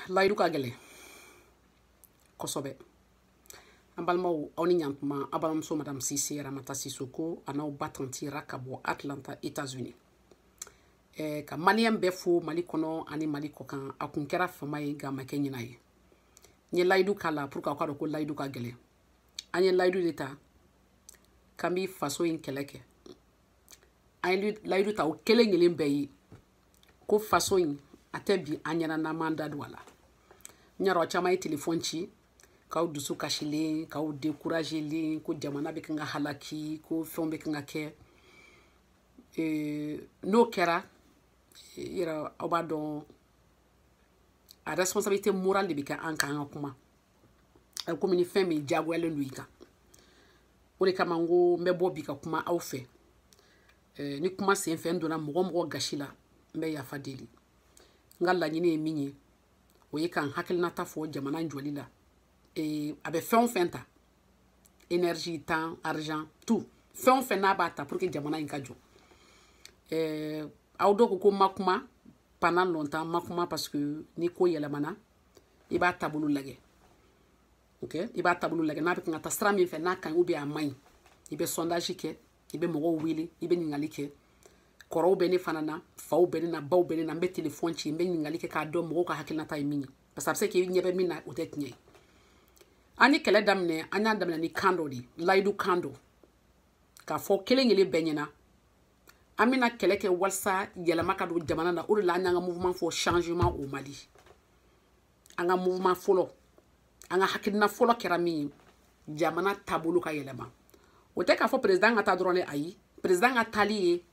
layidu ka gɛlɛn kosɛbɛ an balimaw aw ni ɲantuma a balimamuso madame sise ramata sisoko an'aw ba tanti ra ka bɔ atlanta états unis eh, ka maliyɛn bɛɛ fo mali kɔnɔ ani mali kɔkan a kun kɛra fama ye nka a ma kɛ ɲina ye n ye layidu k'a la pour que aw ka dɔn ko layidu ka gɛlɛn an ye layidu de ta k'an bɛ faso in kɛlɛ kɛ an ye layidu ta o kelen kelen bɛɛ ye ko faso in a tɛ bin an ɲɛna n'an m'an da don a la n y'a dɔn aw caman ye telefɔni ci k'aw dusu kasilen k'aw découragelen ko jamana bɛ kan ka halaki ko fɛnw bɛ kan ka kɛ n'o kɛra yɛrɛ aw b'a dɔn a responsabilité morale de bɛ kɛ an kan an ka kuma a bɛ komi ni fɛn min diyagoyalen don i kan o de kama n ko n bɛ bɔ bi ka kuma aw fɛ eh, ni kuma sen fɛ n donna mɔgɔ mɔgɔ gasi la n bɛ yafa deli n ka laɲini ye min ye o ye ka n hakilinata fɔ jamana jɔli la eh, a bɛ fɛn o fɛn ta énergie temps argent tout fɛn o fɛn n'a b'a ta pour que jamana in ka jɔ eh, aw dɔw ko ko n ma kuma pendant longtemps n ma kuma parce que ni ko yɛlɛmana i b'a taabolo lajɛ ok i b'a taabolo lajɛ n'a bɛ kan ka taa sira min fɛ n'a ka ɲi ou bien a man ɲi i bɛ sondage kɛ i bɛ mɔgɔw wele i bɛ ɲininkali kɛ kɔrɔw bɛ ne fana na faw bɛ ne na baw bɛ ne na n bɛ telefɔni ci n bɛ ɲininkali kɛ k'a dɔn mɔgɔw ka hakilinata ye min ye parce que a bɛ se k'i ɲɛ bɛ min na o tɛ tiɲɛ ye an ye kɛlɛ daminɛ an y'a daminɛ ni kan dɔ de ye layidu kan dɔ k'a fɔ kelen kelen bɛɛ ɲɛna an bɛna kɛlɛ kɛ walisa yɛlɛma ka don jamana na o de la an y'an ka mouvement fɔ changement au mali an ka mouvement fɔlɔ an ka hakilina fɔlɔ kɛra min ye jamana taabolo ka yɛlɛma o tɛ k'a fɔ président ka taa dɔrɔn de ayi président ka taali ye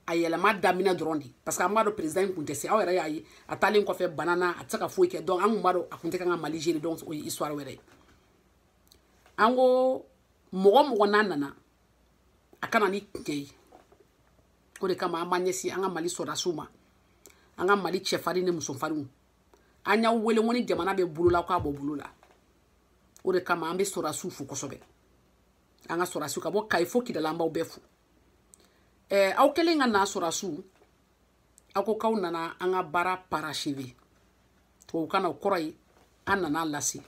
a yɛlɛma daminɛ dɔrɔn de parce que an b'a dɔn président in kun tɛ se aw yɛrɛ y'a ye a taalen kɔfɛ bana na a tɛ se ka foyi kɛ donc an kun b'a dɔn a kun tɛ kan ka mali gérer donc o ye histoire wɛrɛ ye an ko mɔgɔ mɔgɔ n'a nana a ka na ni tiɲɛ ye o de kama an b'an ɲɛsin an ka mali sɔrɔdasiw ma an ka mali cɛfarin ni musofarinw an y'aw wele ko ni jamana bɛ bolo la k'a bɔ bolo la o de kama an bɛ sɔrɔdasiw fo kosɛbɛ an ka sɔrɔdasiw ka bɔ kayi fo kidali an b'aw bɛɛ fo ɛɛ aw kɛlen ka na sɔrɔdasiw aw ko k'aw nana an ka baara parachever tubabukan na o kɔrɔ ye an nana a lase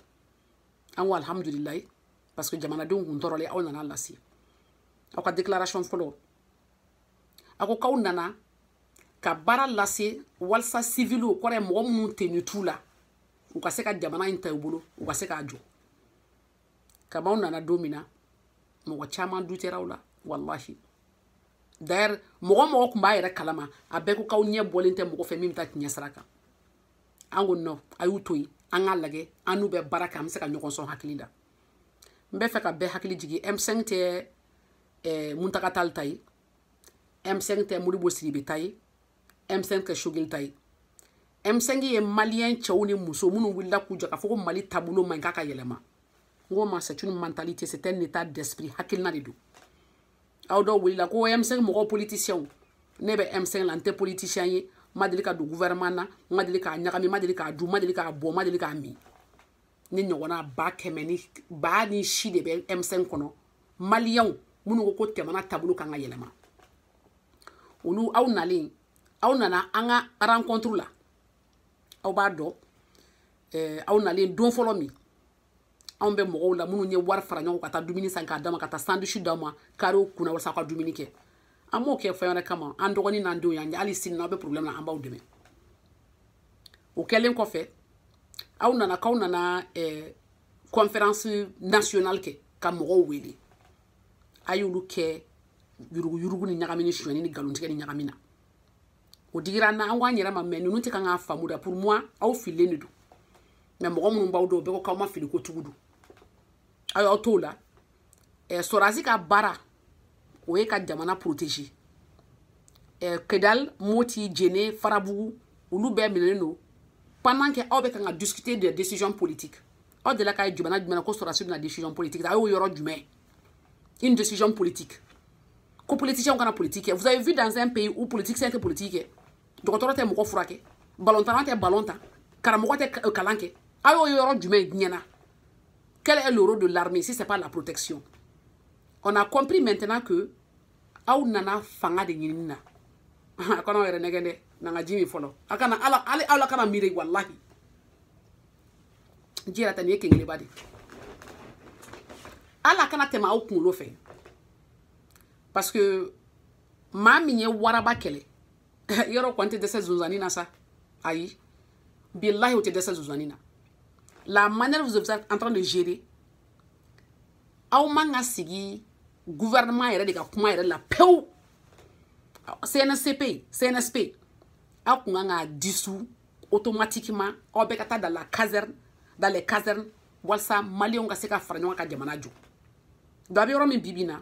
an ko alihamudulilayi parce que jamanadenw kun tɔɔrɔlen aw nana lase aw ka déclaration fɔlɔ a ko k'aw nana ka baara lase walisa siviliw kɔrɔ ye mɔgɔ minnu tenue t'u la u ka se ka jamana in ta u bolo u ka se k'a jɔ kab'aw nana don min na mɔgɔ caman dutera aw la walahi d'ailleurs mɔgɔ o mɔgɔ kun b'a yɛrɛ kalama a bɛɛ ko k'aw ɲɛ bɔlen tɛ mɔgɔ fɛ min bɛ taa tiɲɛ sira kan an ko non a y'u to yen an k'a lajɛ an n'u bɛ baara kɛ an bɛ se ka ɲɔgɔn sɔn hakili la n bɛ fɛ ka bɛɛ hakili jigin m5 tɛ ɛɛ eh, muntaga tali ta ye m5 tɛ modibo sidibe ta ye m5 tɛ choguel ta ye m5 ye maliyɛn cɛw ni muso minnu wulila k'u jɔ k'a fɔ ko mali taabolo man ɲi k'a ka yɛlɛma n k'o ma c'est une mentalité c'est un état d'esprit hakilina de don aw dɔw wulila ko M5 mɔgɔw politiciens ne bɛ M5 la n tɛ politicien ye n ma deli ka don gouvernement na n ma deli k'a ɲagami n ma deli k'a dun n ma deli k'a bɔ n ma deli k'a min ne ɲɔgɔnna ba kɛmɛ ni ba ni si de bɛ M5 kɔnɔ maliyɛnw minnu ko jamana taabolo kan ka yɛlɛma olu aw nalen aw nana an ka rencontre la aw b'a dɔn eh, aw nalen don fɔlɔ min anw bɛ mɔgɔw la minnu ye wari fara ɲɔgɔn ka taa dumuni san k'a d'a ma ka taa sandwich d'a ma karew kunna walasa aw ka dumuni kɛ an m'o kɛ fɛn wɛrɛ kama an dɔgɔnin n'an denw y'aw ye hali sini n'aw bɛ problème na an b'aw dɛmɛ o kɛlen kɔfɛ aw nana k'aw nana eh, conférence nationale kɛ ka mɔgɔw wele a y'olu kɛ yuruguyurugu ni ɲagami ni sonyɛni ni nkalontigɛ ni ɲagami na o digira an na an ko an yɛrɛ ma mais ninnu tɛ kan k'a faamu da pour moi aw fililen de don mais mɔgɔ minnu b'aw dɔn bɛɛ ko k'aw ma fili ko tugu don aw y'aw t'o la eh, sɔrasi ka baara o ye ka jamana protéger eh, kidal moti jɛnɛ farabugu olu bɛɛ minɛnen don pendant que aw bɛ kan ka discuter de décisions politiques aw delila k'a ye jamana jumɛn ko sɔrasi bɛna décision politique a y'o yɔrɔ jumɛn une décision politique ko politicien kana politique kɛ vous avez vu dans un pays où politicien tɛ politique kɛ dɔgɔtɔrɔ tɛ mɔgɔ furakɛ balontanna tɛ balon tan karamɔgɔ tɛ euh, kalan kɛ a y'o yɔrɔ jumɛn ɲɛna quel est le rôle de l'armée si c'est pas la protection on a compris maintenant que aw nana fanga de ɲinini na a kana aw yɛrɛ nɛgɛn dɛ n'an ka ji min fɔlɔ a kana ala ale aw la kana miiri walahi ji yɛrɛ ta nin ye kenkeleba de ala kana tɛmɛ aw kunkolo fɛ parce que maa min ye waraba kɛlɛ yɔrɔ kɔni tɛ dɛsɛ zonzanni na sa ayi bilahi o tɛ dɛsɛ zonzanni na la manière vous êtes en train de gérer aw man ka sigi gouvernement yɛrɛ de ka kuma yɛrɛ la pewu CNSP CNSP aw kun kan k'a dissous automatiquement aw bɛɛ ka taa dans la caserne dans les casernes walasa maliyɛnw ka se ka fara ɲɔgɔn ka jamana jɔ donc a bɛ yɔrɔ min bi bi in na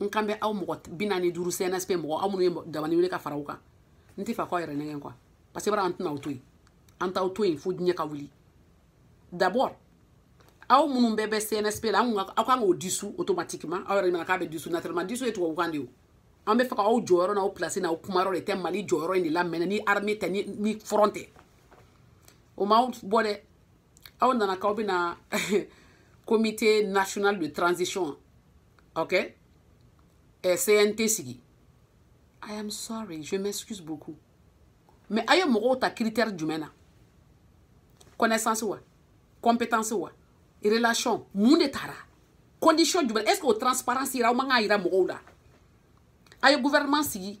n kan bɛ aw mɔgɔ bi naani duuru cnsp mɔgɔ aw minnu ye dabani wele ka fara aw kan n tɛ fɛ k'aw yɛrɛ nɛgɛn quoi parce que bara an tɛna aw to yen an t'aw to yen fo diɲɛ ka wuli d'abord aw minnu bɛɛ bɛ cnsp la aw kan k'o dissous automatiquement aw yɛrɛ nana k'a bɛ dissous naturellement dissous ye tubabukan de ye an bɛ fɛ ka aw jɔyɔrɔ n'aw place n'aw kumayɔrɔ de tɛ mali jɔyɔrɔ in de la mɛnɛ ni armée tɛ ni front tɛ o m'aw bɔ dɛ aw nana k'aw bɛna comité national de transition ok eh, cnt sigi i am sorry je m'excuse beaucoup mais a ye mɔgɔw ta critère jumɛn na connaissance wa compétence wa relation mun de tara condition jumɛn est-ce que o transparence yira aw man kan yira mɔgɔw la a ye gouvernement sigi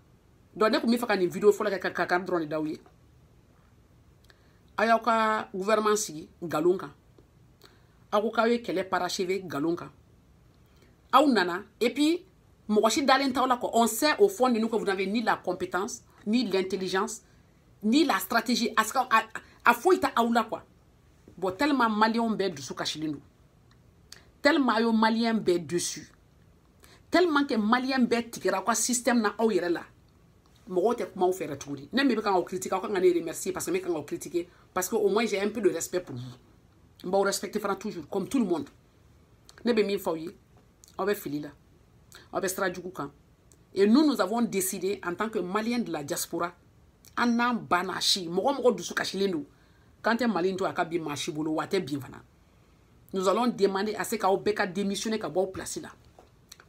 donc ne tun bɛ fɛ ka nin video fɔlɔ kɛ ka kankari dɔrɔn de d'aw ye a y'aw ka gouvernement sigi nkalon kan aw ko k'aw ye kɛlɛ parachever nkalon kan aw nana et puis mɔgɔ si dalen t'aw la quoi on sait au fond de nous que vous n'avez ni la compétence ni l'intelligence ni la stratégie a si ka a, a foyi tɛ aw la quoi bon tellement maliyɛnw bɛɛ dusu kasilen don tellement aw ye maliyɛn bɛɛ déçu tellement que maliyɛn bɛɛ tigɛra aw ka système na aw yɛrɛ la mɔgɔw tɛ kuma aw fɛ yɛrɛ tuguni ne min bɛ kan k'aw critiquer aw kan ka ne remercier parce que ne kan k'aw critiquer parce que au moins j'ai un peu de respect pour vous n b'aw respecter fana toujours comme tout le monde ne bɛ min fɔ aw ye aw bɛ fili la aw bɛ sira jugu kan et nous nous avons décidé en tant que maliyɛn de la diaspora an n'an banna si mɔgɔ mɔgɔ dusu kasilen don k'an tɛ mali in to a ka bin maa si bolo wa a tɛ bin fana nous allons demander à ce qu'aw bɛɛ ka démissionner ka bɔ aw place la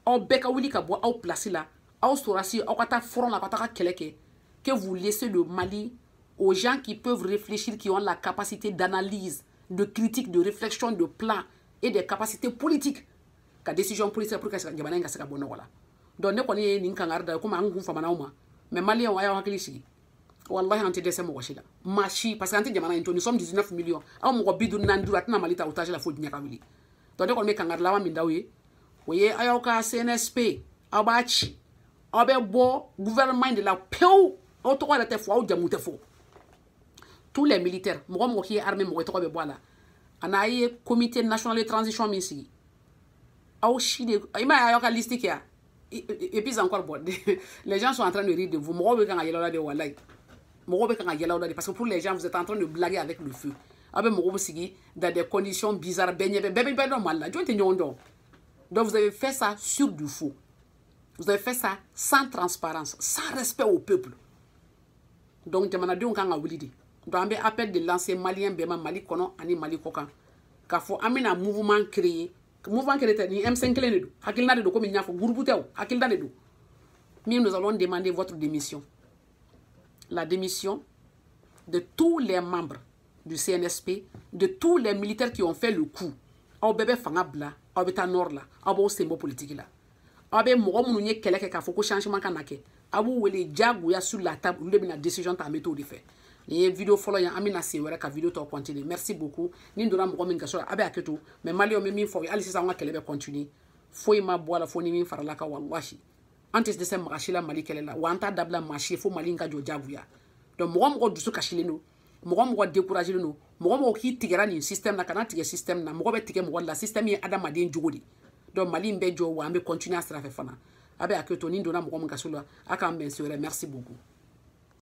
aw bɛɛ ka wuli ka bɔ aw place la aw sorasi aw ka taa front la ka taa ka kɛlɛ kɛ que vous laissez le Mali aux gens qui peuvent réfléchir qui ont la capacité d'analyse de critique de réflexion de plan et des capacités politiques ka décision politique pour que jamana in ka se ka bɔ nɔgɔ la donc ne kɔni ye nin kankari d'aw ye komi n kun famana aw ma mais maliyɛnw a y'aw hakili sigi wallahi an tɛ dɛsɛ mɔgɔ si la maa si parce que an tɛ jamana in to nous sommes 19 millions aw mɔgɔ bi duuru naani duuru a tɛna mali ta otage la fo diɲɛ ka wuli donc ne kɔni bɛ kangari laban min d'aw ye o ye aw y'aw ka cnsp aw b'a ci aw bɛ bɔ gouvernement de la pewu aw tɔgɔ yɛrɛ tɛ fɔ aw jamu tɛ fɔ tous les militaires mɔgɔ mɔgɔ k'i ye armée mɔgɔ tɔgɔ bɛ bɔ a la ani a ye comité national de transition min sigi aw si de i m'a ye aw ka liste kɛ yan et puis encore bon les gens sont en train de rire de vous mɔgɔw bɛ kan ka yɛlɛ la de walayi mɔgɔw bɛ kan ka yɛlɛ la de parce que pour les gens vous êtes en train de blaguer avec le feu aw bɛ mɔgɔw sigi dans des conditions bizarres bɛɛ ɲɛ bɛ bɛɛ bɛ bɛɛ dɔn mali la jɔn tɛ ɲɔgɔn dɔn donc vous avez fait ça sur du faux vous avez fait ça sans transparence sans respect au peuple donc jamanadenw kan ka wuli de donc an bɛ appel de lancer maliyɛn bɛɛ ma mali kɔnɔ ani mali kɔkan k'a fɔ an bɛna mouvement créer mouvement kelen tɛ ni M5 kelen de don hakilina de don komi n y'a fɔ groupe tɛ o hakilina de don min nous allons demander votre démission la démission de tous les membres du CNSP de tous les militaires qui ont fait le coup aw bɛɛ bɛ fanga bila aw bɛ taa nord la aw b'aw sen bɔ politiki la aw bɛ mɔgɔ minnu ye kɛlɛ kɛ k'a fɔ ko changement ka na kɛ a b'u wele diyagoya sur la table olu de bɛna décision ta an bɛ t'o de fɛ nin ye video fɔlɔ ye an bɛna sen wɛrɛ ka video tɔ continuer merci beaucoup ni n donna mɔgɔ min gasi la a bɛ hakɛ to mais maliyɛnw n bɛ min fɔ o ye hali sisan an ka kɛlɛ bɛ continuer foyi ma bɔ a la fo ni min farala a kan walahi an tɛ dɛsɛ maa si la mali kɛlɛ la wa an t'a dabila maa si ye fo mali in ka jɔ diyagoya donc mɔgɔ mɔgɔ dusu kasilen don mɔgɔ mɔgɔ découragelen don mɔgɔ mɔgɔ k'i tigɛra nin système na kana tigɛ système na mɔgɔ bɛ tigɛ mɔgɔ la système ye adamaden jogo de donc mali in bɛ jɔ wa an bɛ continuer a sira fɛ fana a bɛ hakɛ to ni n donna mɔgɔ min gasi la a k'an bɛn sen wɛrɛ merci beaucoup